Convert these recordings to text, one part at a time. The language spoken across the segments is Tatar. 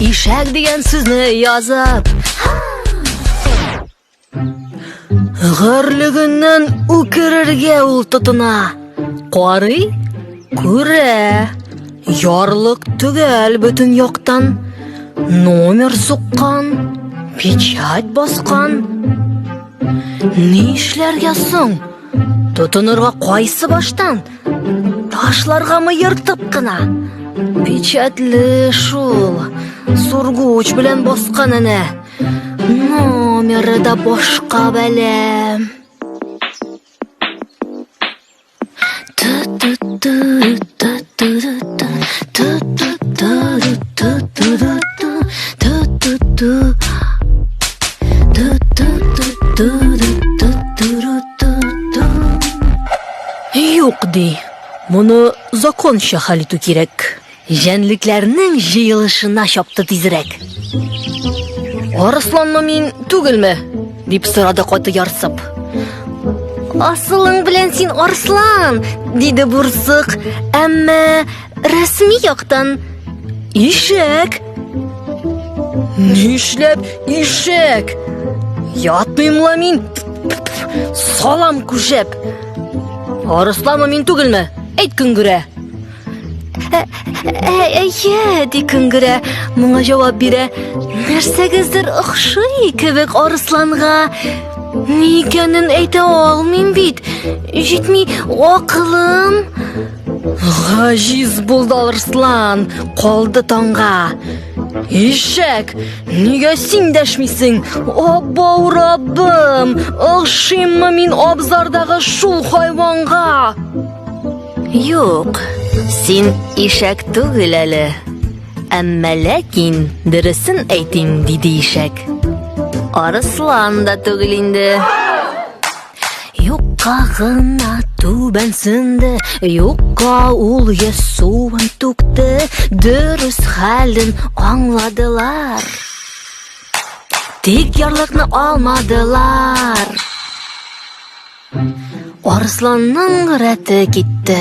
Ишәк дигән сүзне язып. Горлегеннән үкерергә ул тотына. Карый, күрә. Ярлык төгәл бөтен яктан. Номер суккан, печать баскан. Ни эшләргә соң? Тотынырга кайсы баштан? Ташларгамы ертып кына? Печатле шул. Сургуч белән баскан әнә. Номеры да башка бәлә. Ту-ту-ту-ту. Юк ди. Моны законча хәл итү кирәк. Җәнлекләрнең җыелышына чапты тизрәк. Арысланмы мин түгелме? Дип сорады каты ярсып. Асылың белән син арслан, диде бурсык. Әмма рәсми яктан ишәк. Нишләп ишәк? Ятмыйм ла мин. Салам күшәп. Арысланмы мин түгелме? Әйт көнгүрә. Ә, ә, әйе, ди көнгерә, моңа җавап бирә. Нәрсәгездер охшый кебек арысланга. Ни икәнен әйтә алмыйм бит. Җитми акылым. Гаҗиз булды арыслан, калды таңга. Ишәк, нигә син дәшмисең? Абба урабым, охшыйммы мин абзардагы шул хайванга? Юк, син ишәк түгел әле. Әмма ләкин дөресен әйтим, диде ишәк. Арыслан да түгел инде. Юкка гына түбән сынды, юкка ул йөз суын түкте, дөрес хәлен аңладылар. Тик ярлыкны алмадылар. Арысланның рәте китте.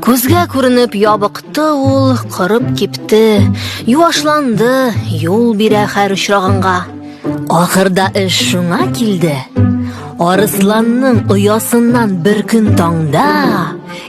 Күзгә күренеп ябыкты ул, кырып кипте. Юашланды, юл бирә хәр очрагынга. Ахырда эш шуңа килде. Арысланның оясыннан бер көн таңда